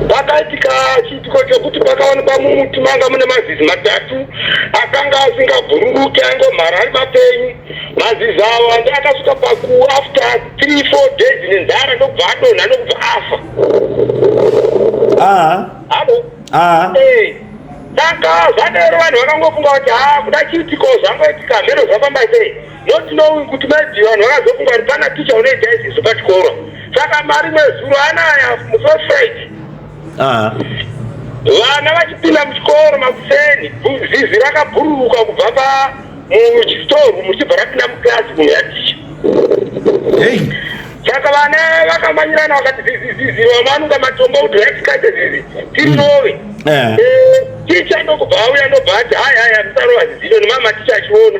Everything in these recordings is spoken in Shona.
pakaitika chiitiko chokuti pakawanikwa mumuti manga mune mazizi matatu akanga asingabhururuki aingomhara ari mapenyu mazizi avo andi akasvika paku after three four days nenzara ndokubva adonha nokubva afa saka zvadero vanhu vakangofunga kuti ha ah, kuda chiitiko zvangoitika mheno zvafamba sei Not knowing kuti mai Diva vanhu vakazofunga kuti pana ticha unoita izvizvo pachikoro. Saka mari mwezuro anaya muso Friday. Ah. Vana vachipinda muchikoro makuseni, bu- zizi rakabhururuka kubva pa muchitoru muchibva rapinda muclassroom yaticha. Hey. Saka vana vakamanyirana vakati zizi zizi vamwe vanonga matombo kuti raitikaite zizi tirove. Eh. Eh, Ticha ndokubva auya ndobva ati hai hai musarova zizi iro nemama ticha achiona.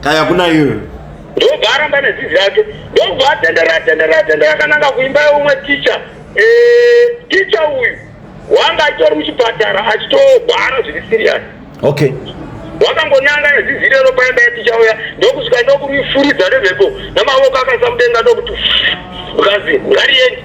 kaya kuna iwe ndobva aramba nezizi yake ndobva atendera atendera atendera akananga kuimba yeumwe ticha eh, ticha uyu wanga achitori muchipatara achitobhara zviri siriyasi okay wakangonanga nezizi irero paimba yeticha uya ndokusvika ndokuifuridza nemhepo namavoko akaisa mudenga ndokuti ukazi ngariyendi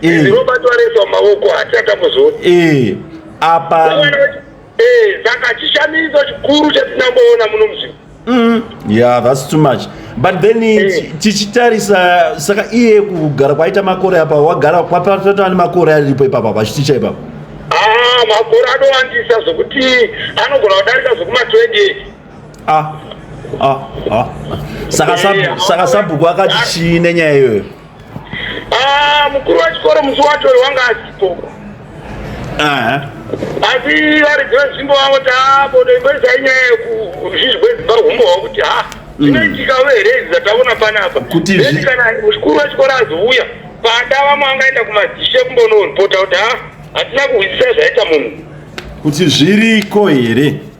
izi mm. robert wareswa maoko hati atambozoona eh, apa eh, saka chishamiso chikuru chatinamboona muno muzvino mm. yeah that's too much but then eh. tichitarisa saka iye kugara kwaita makore apa wagara kwapatata ne makore aripo ipapa pachiticha ipapa ah makore anowandisa zvokuti anogona kudarika zvokuma 20 ah ah ah saka eh, sabhuku akati chii nenyaya iyoyo Ah, mukuru wechikoro musi wacho uyu wanga asipo Aha. asi vari dzevenzvimbo vavo tabodo imboisa inyaya yekuzvizvi kwedzimba humbo hwavo kuti ha zvinoitika uye here izvi zvataona panapa Kuti zvi- Then kana mukuru wechikoro azouya pada vamwe angaenda kumadzishe kumbonoripota kuti ha hatina kuhwisisa zvaita munhu Kuti zviriko here?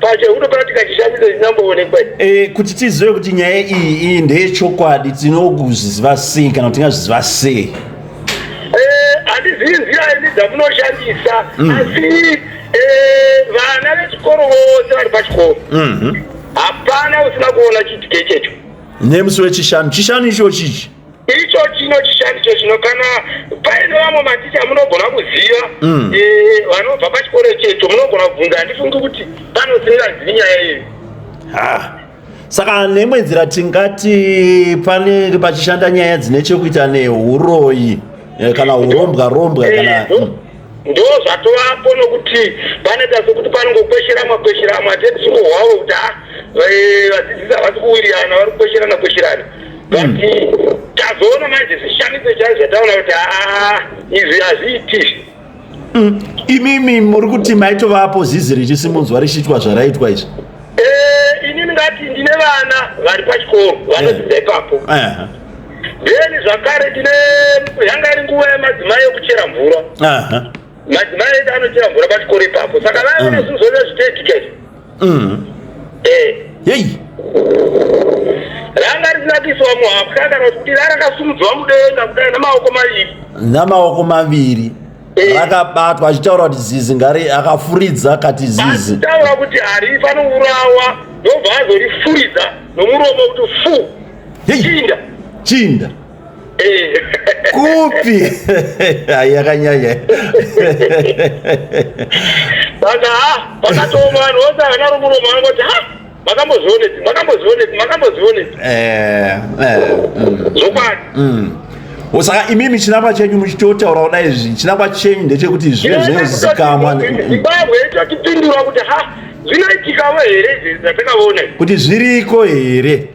pachehudo panotika chishamiso chinamboonekwa e, kuti tizive kuti nyaya iyi iyi ndeyechokwadi tinokuzviziva sei kana kuti tingazviziva sei eh, handizivi nzira ini dzamunoshandisa mm. asi eh, vana vechikoro vose vari pachikoro mhm. hapana usina kuona chitike checho nemusi wechishanu chishanu icho chichi icho chino chishandiso chino kana paine vamwe maticha munogona kuziva mm. eh, vanobva e, pachikoro checho munogona kubvunza handifungi kuti panosingazivi nyaya iyi saka nemwe nzira tingati panenge pachishanda nyaya dzine chekuita neuroyi eh, kana urombwa rombwa kana eh, mm. ndozvatovapo nokuti panoita sokuti panongokwesheramwa kwesheramwa hatetsuko hwavo kuti ha eh, vadzidzisi havasi kuwirirana vari kukwesherana kwesherana but hmm. tazoona manje zvishamiso chaizvo zvataona kuti haa izvi hazviiti hmm. imimi muri kuti maitovapo zizi richisimunzwa richiitwa zvaraitwa izvi eh, ini ndingati ndine vana vari pachikoro vanodzidza eh. ipapo then zvakare tine yanga iri nguva yemadzimai yokuchera mvura madzimai edu anochera mvura pachikoro ipapo saka vaive mm. nezvinhu zvoita zvitetikei mm. eh. yei ranga risinakiiswa muhapwa kana kuti rakasumudzwa mudenga kudai namaoko maviri namaoko maviri eh. rakabatwa achitaura kuti zizi ngari akafuridza akati zizi achitaura kuti harifanira kuurawa ndobva azorifuridza nomuromo kuti fuu chinda chinda eh. kupi ai yakanyanya bata pakatooma vanhu vose havana romuromo vanongoti ha makambozvioneti makambozvioneti makambozvioneti eh, eh, mm. zvokwadi mm. saka imimi chinangwa chenyu muchitotaura kuda izvi chinangwa chenyu ndechekuti zvive zvinozikamwa zimbabwe tatipindura kuti ha zvinoitikavo here izvi zvatakavona kuti zviriko here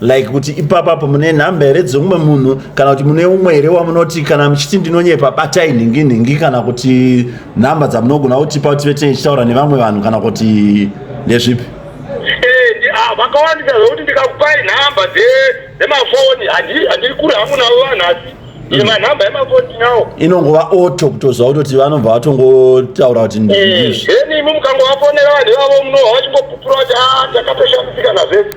like kuti ipapa apo mune nhamba here dzeumwe munhu kana kuti mune umwe here wamunoti kana muchiti ndinonyepa batai nhingi nhingi kana kuti nhamba dzamunogona kutipa kuti vete ichitaura nevamwe vanhu kana kuti ndezvipi eh, ah, vakawandisa zvekuti ndikakupai nhamba dzemafoni handiri kure hangu navo vanhu asi imanhamba yemafoni nawo inongova oto kutoziva kutoti vanobva vatongotaura kuti ndizvo eh, then imi mukangovafonera vanhu ivavo munova vachingopupura kuti a ah, takatoshamisika nazvese